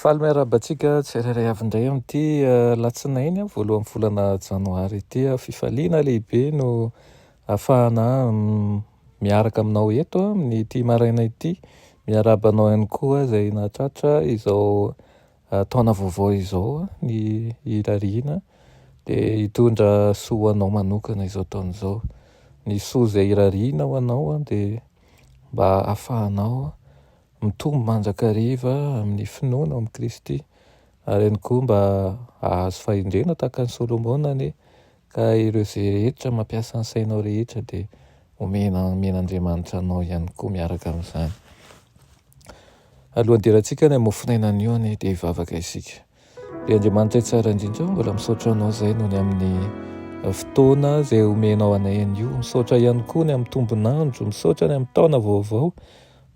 Faly miarahaba antsika tsirairay avy indray amin'ity alatsinainy voalohan'ny volana janoary ity. Fifaliana lehibe no afahana miaraka aminao eto amin'ity maraina ity. Miarahaba anao ihany koa izay nahatratra izao taona vaovao izao ny irariana dia hitondra soa ho anao manokana izao taona izao. Ny soa izay irariana ho anao dia mba afahanao Mitombo mandrakariva amin'ny finoana ao amin'i Kristy, ary ihany koa mba hahazo fahendrena tahaka an'i Solomona anie ka ireo izay rehetra mampiasa ny sainao rehetra dia omena omen'Andriamanitra anao ihany koa miaraka amin'izany. Alohan'ny hiderantsika any amin'ny mofonaina anio anie dia hivavaka isika. Ry Andriamanitray tsara indrindra, mbola misaotra anao izay noho ny amin'ny eh, fotoana izay omenao anay an'io. Misaotra ihany koa ny amin'ny tombonandro, misaotra ny amin'ny taona vaovao,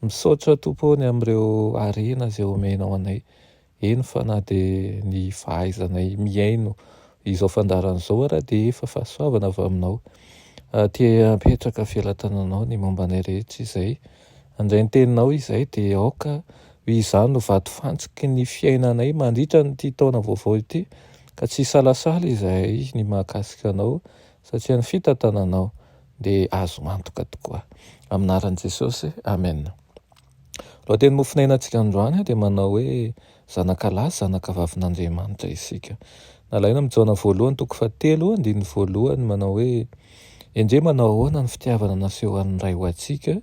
misaotra tompo ny amin'ireo harena izay omenao anay. Eny fa na dia ny fahaizanay mihaino izao fandaharana izao ara dia efa fahasoavana avy aminao. Aty apetraka felatananao ny momba anay rehetra izay. Handray ny teninao izay dia aoka ho izany no vato fantsiky ny fiainanay mandritra an'ity taona vaovao ity ka tsy hisalasala izahay ny mahakasika anao satria ny fitantananao dia azo antoka tokoa. Amin'ny anaran'i Jesosy, Amen. Lohatenin'ny mofon'ainantsika androany dia manao hoe Zanakalahy sy zanakavavin'Andriamanitra isika. Nalaina amin'i Jaona voalohany toko fahatelo, andininy voalohany, manao hoe, Endrey manao ahoana ny fitiavana nasehon'ny Ray ho antsika,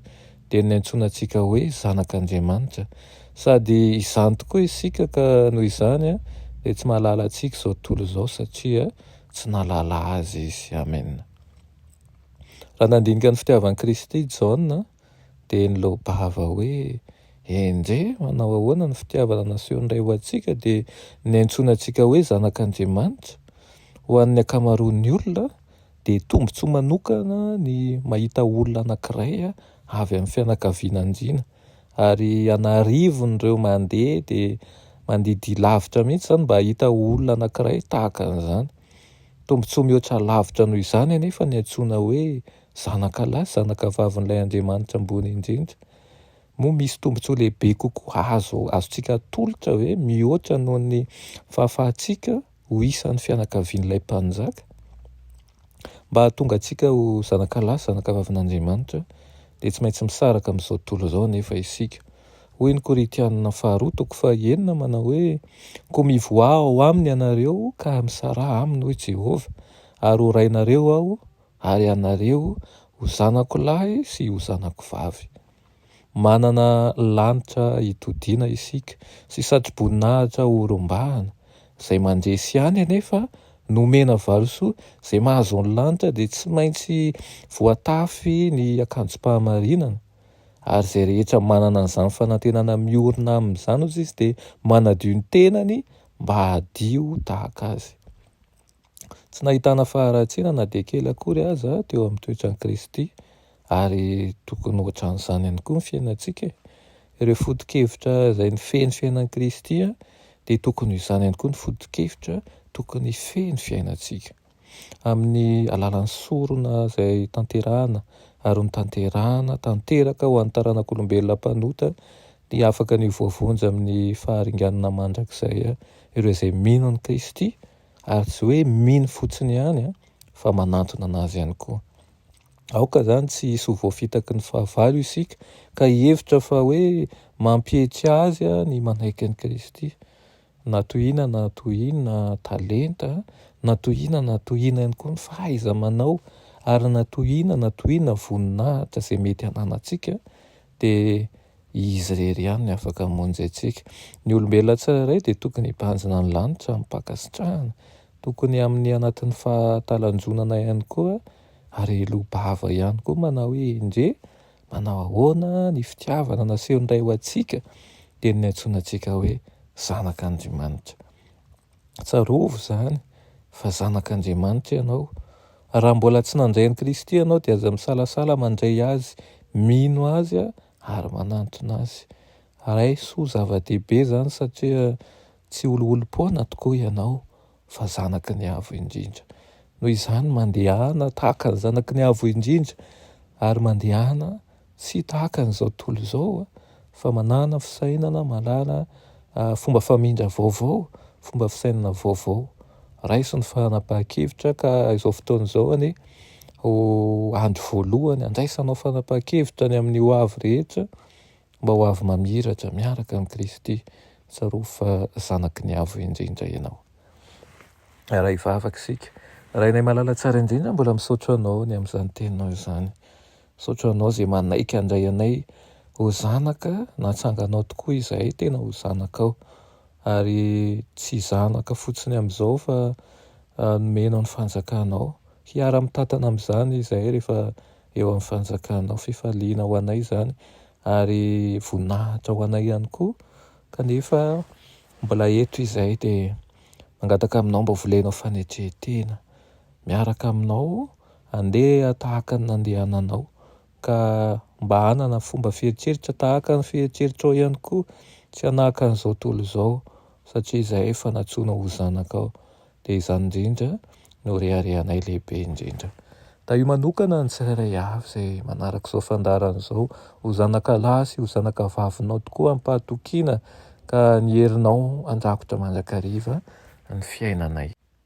dia ny niantsoana antsika hoe zanak'Andriamanitra. Sady izany tokoa isika, ka noho izany dia tsy mahalala antsika izao tontolo izao, satria tsy nahalala Azy izy. Amena. Raha nandinika ny fitiavan'i Kristy i Jaona, Dia ny laobava hoe, Enje, manao ahoana ny fitiavana nasehon'ny Ray ho antsika dia niantsoana antsika hoe zanak'Andriamanitra? Ho an'ny ankamaroan'ny olona, dia tombontsoa manokana ny mahita olona anankiray avy amin'ny fianakaviana andiana. Ary an'arivon'ireo mandeha dia mandidia lavitra mihitsy izany mba hahita olona anankiray tahaka an'izany. Tombontsoa mihoatra lavitra noho izany anefa ny antsoina hoe zanakalahy sy zanakavavin'ilay Andriamanitra Ambony Indrindra, moa misy tombontsoa lehibe kokoa azo azontsika atolotra ve mihoatra noho ny fahafahantsika ho isan'ny fianakavian'ilay Mpanjaka? Mba hahatonga antsika ho zanakalahy sy zanakavavin'Andriamanitra, dia tsy maintsy misaraka amin'izao tontolo izao anefa isika. Hoy ny Korintianina faharoa toko fahenina manao hoe, Koa mivoaha ao aminy ianareo ka misaraha aminy, hoy Jehovah, ary horainareo aho ary ianareo ho zanako lahy sy ho zanako vavy. Manana lanitra hitodiana isika sy satroboninahitra horombahana. Izay mandresy ihany anefa no omena valisoa, izay mahazo ny lanitra dia tsy maintsy voatafy ny akanjom-pahamarinana, ary izay rehetra manana an'izany fanantenana miorina amin'izany ozy izy dia manadio ny tenany mba hadio tahaka azy. Tsy nahitana faharatsiana na dia kely akory aza teo amin'ny toetran'i Kristy, ary tokony hoatran'izany ihany koa ny fiainantsika e! Ireo foto-kevitra izay nifehy ny fiainan'i Kristy dia tokony ho izany ihany koa ny foto-kevitra tokony hifehy ny fiainantsika. Amin'ny alalan'ny sorona izay tanterahana ary notanterahana tanteraka ho an'ny taranak'olombelona mpanota Dia afaka ny ho voavonjy amin'ny faharinganana mandrakizay ireo izay mino an'i Kristy, ary tsy hoe mino fotsiny ihany fa manantona an'Azy ihany koa. Aoka izany tsy hisy ho voafitaky ny fahavalo isika ka hihevitra fa hoe mampihetsika azy ny manaiky an'i Kristy, na toy inona na toy inona talenta, na toy inona na toy inona ihany koa ny fahaiza-manao, ary na toy inona na toy inona voninahitra izay mety hananantsika, dia Izy irery ihany no afaka hamonjy antsika. Ny olombelona tsirairay dia tokony hibanjina ny lanitra amim-pankasitrahana, tokony amin'ny anatin'ny fahatalanjonana ihany koa ary hiloa-bava ihany koa manao hoe, Endrey, manao ahoana ny fitiavana nasehon'ny Ray ho antsika? dia ny niantsoana antsika hoe zanak'Andrimanitra. Tsarovy izany fa zanak'Andriamanitra ianao. Raha mbola tsy nandray an'i Kristy ianao dia aza misalasala mandray Azy, mino Azy ary manantona Azy. Ray soa zava-dehibe izany satria tsy oliolim-poana tokoa ianao fa zanaky ny Avo Indrindra. Noho izany mandehana tahaka ny zanaky ny Avo Indrindra ary mandehana tsy tahaka an'izao tontolo izao fa manana fisainana, manana fomba famindra vaovao, fomba fisainana vaovao. Raiso ny fanapahan-kevitra ka izao fotoana izao anie ho andro voalohany handraisanao fanapahan-kevitra ny amin'ny ho avy rehetra mba ho avy mamiratra miaraka amin'i Kristy. Tsarovy fa zanaky ny Avo Indrindra ianao. Aray vavaka isika. Rainay malala tsara indrindra, mbola misaotra anao ny amin'izany teninao izany. Misaotra anao izay manaiky handray anay ho zanaka, natsanganao tokoa izahay tena ho zanakao, ary tsy zanaka fotsiny amin'izao fa nomenao ny fanjakanao, hiara mitantana amin'izany izahay rehefa eo amin'ny fanjakanao, fifaliana ho anay izany ary voninahitra ho anay ihany koa, kanefa mbola eto izahay dia mangataka aminao mba volenao fanetren-tena. Miaraka aminao handeha tahaka ny nandehananao, ka mba hanana fomba fiheritreritra tahaka ny fiheritreritrao ihany koa, tsy hanahaka an'izao tontolo izao, satria izahay efa nantsoina ho zanakao, dia izany indrindra no reharehanay lehibe indrindra. Tahio manokana ny tsirairay avy izay manaraka izao fandaharana izao, ho zanakalahy sy ho zanakavavinao tokoa amim-pahatokiana, ka ny herinao handrakotra mandrakariva ny fiainanay.